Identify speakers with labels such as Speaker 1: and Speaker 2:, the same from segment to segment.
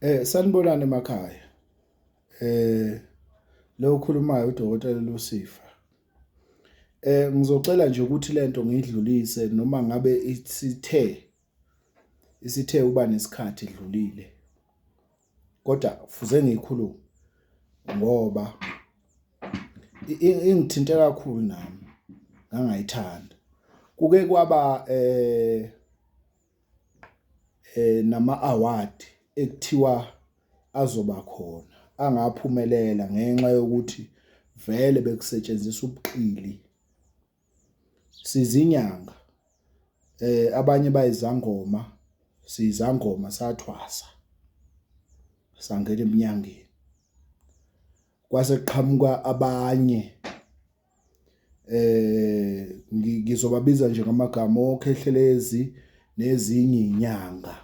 Speaker 1: Eh sanibonani emakhaya. Eh lo okhulumayo udokotela Lusifa. Eh ngizocela nje ukuthi lento ngidlulise noma ngabe isithe isithe uba nesikhathi edlulile. Kodwa fuze ngikhulume ngoba ingithinte kakhulu nami ngangayithanda. Kuke kwaba eh eh nama award ekuthiwa azoba khona angaphumelela ngenxa yokuthi vele bekusetshenziswa ubuqili sizinyanga eh abanye bayizangoma sizangoma sathwasa sangena eminyangeni kwase kuqhamuka abanye eh ngizobabiza nje ngamagama okhehlelezi nezinye inyanga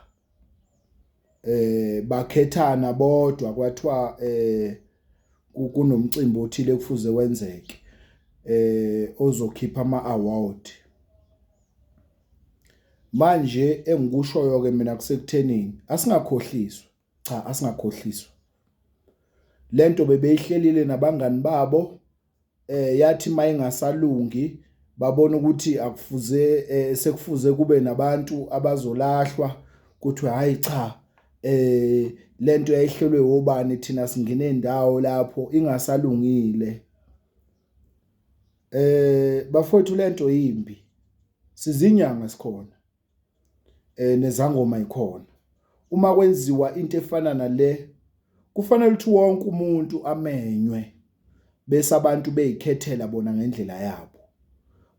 Speaker 1: eh bakhethana bodwa kwathiwa eh kunomcimbi othile kufuze wenzeke eh ozokhipha ama award manje engikushoyo ke mina kusekuthenini asingakhohliswa Cha asingakhohliswa. Lento bebeyihlelile nabangani babo eh yathi mayingasalungi babona ukuthi akufuze eh, sekufuze kube nabantu abazolahlwa kuthi hayi cha eh lento yayihlelwe obani thina singene indawo lapho ingasalungile eh bafowethu lento yimbi sizinyanga sikhona eh nezangoma ikhona uma kwenziwa into efana nale kufanele ukuthi wonke umuntu amenywe bese abantu beyikhethela bona ngendlela yabo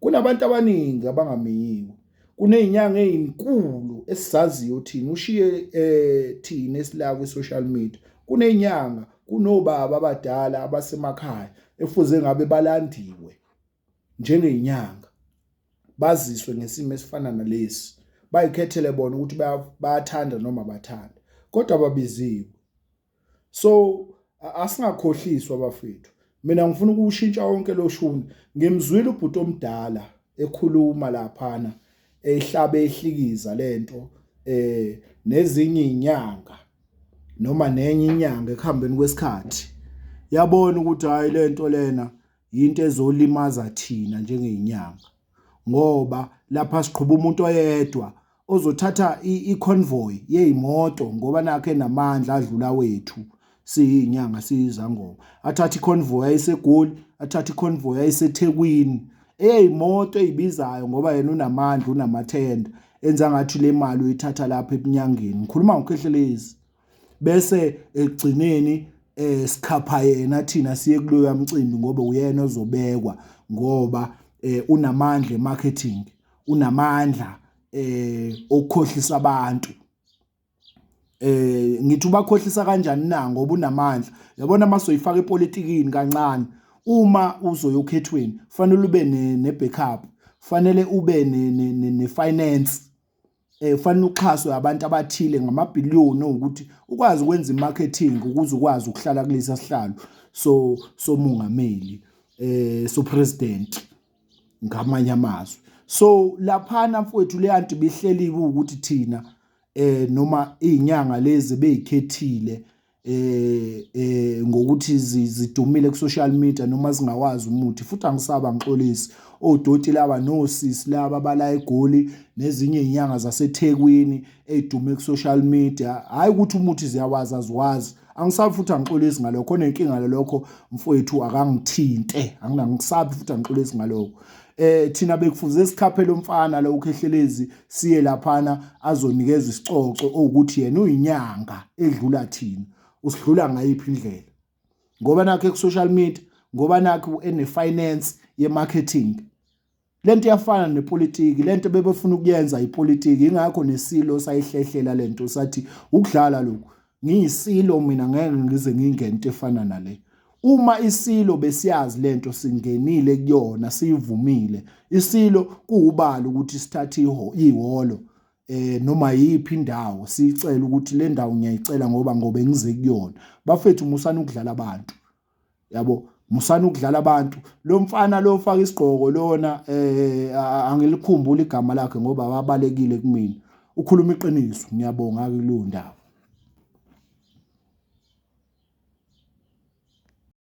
Speaker 1: kunabantu abaningi abangamiyiwe kunezinyanga ezinkulu esizaziyo thina ushiye eh thina esila ku social media kunezinyanga kunobaba abadala abasemakhaya efuze ngabe balandiwe njengenyanga baziswe ngesimo esifana nalesi bayikhethele bona ukuthi bayathanda noma bathanda kodwa ababiziwe so asingakhohliswa bafethu mina ngifuna ukushintsha wonke lo shuni ngimzwile ubhuti omdala ekhuluma laphana ehlabe ehlikiza lento eh nezinye inyanga noma nenye inyanga ekuhambeni kwesikhathi yabona ukuthi hayi lento lena yinto ezolimaza thina njengey'nyanga ngoba lapha siqhuba umuntu oyedwa ozothatha i-convoy yey'moto ngoba nakho enamandla adlula wethu siyinyanga siyizangoma athathe i-convoy ayisegoli athathe i-convoy ayisethekwini eyey'moto ey'bizayo ngoba yena unamandla unamathenda enza ngathi le mali uyithatha lapha ebunyangeni ngikhuluma ngokhehlelezi bese ekugcineni eh sikhapha yena thina siye kuloya mcimbi ngoba uyena ozobekwa ngoba eh unamandla emarketing unamandla eh okukhohlisa abantu eh ngithi ubakhohlisa kanjani na ngoba unamandla yabona masoyifaka epolitikini kancane uma uzoyokhethweni fanele ube ne backup fanele ube ne finance eh fanele uxhaswe abantu abathile ngamabhiliyoni ukuthi ukwazi ukwenza imarketing ukuze ukwazi ukuhlala kulesa sihlalo so somungameli eh so president ngamanye amazwi so laphana mfowethu le anti bihleliwe ukuthi thina eh noma izinyanga lezi beyikhethile eh eh ngokuthi zidumile ku social media noma zingawazi umuthi futhi angisaba ngixolisi odoti laba nosisi laba bala egoli nezinye izinyanga zaseThekwini ezidume ku social media hayi ukuthi umuthi ziyawazi aziwazi angisabi futhi angixolisi ngalokho khona inkinga lelokho mfowethu akangithinte anginakusabi futhi angixolisi ngalokho eh thina bekufuze sikhaphe lomfana lo ukhehlelezi siye laphana azonikeza isicoco ukuthi yena uyinyanga edlula thina usidlula ngayiphi indlela ngoba nakhe ku social media ngoba nakhe ene finance ye marketing lento iyafana nepolitiki lento bebefuna ukuyenza ipolitiki ingakho nesilo sayihlehlela lento sathi ukudlala lokhu Ngiyisilo mina ngeke ngize ngingente efana nale. Uma isilo besiyazi lento singenile kuyona siyivumile. Isilo kuwubalo ukuthi sithathe ihholo eh noma yiphi indawo sicela ukuthi le ndawo ngiyayicela ngoba ngoba engize kuyona. Bafethu musani ukudlala abantu. yabo musani ukudlala abantu lo mfana lo ofaka isigqoko lona eh angilikhumbula igama lakhe ngoba wabalekile kumina ukhuluma iqiniso ngiyabonga kulondaba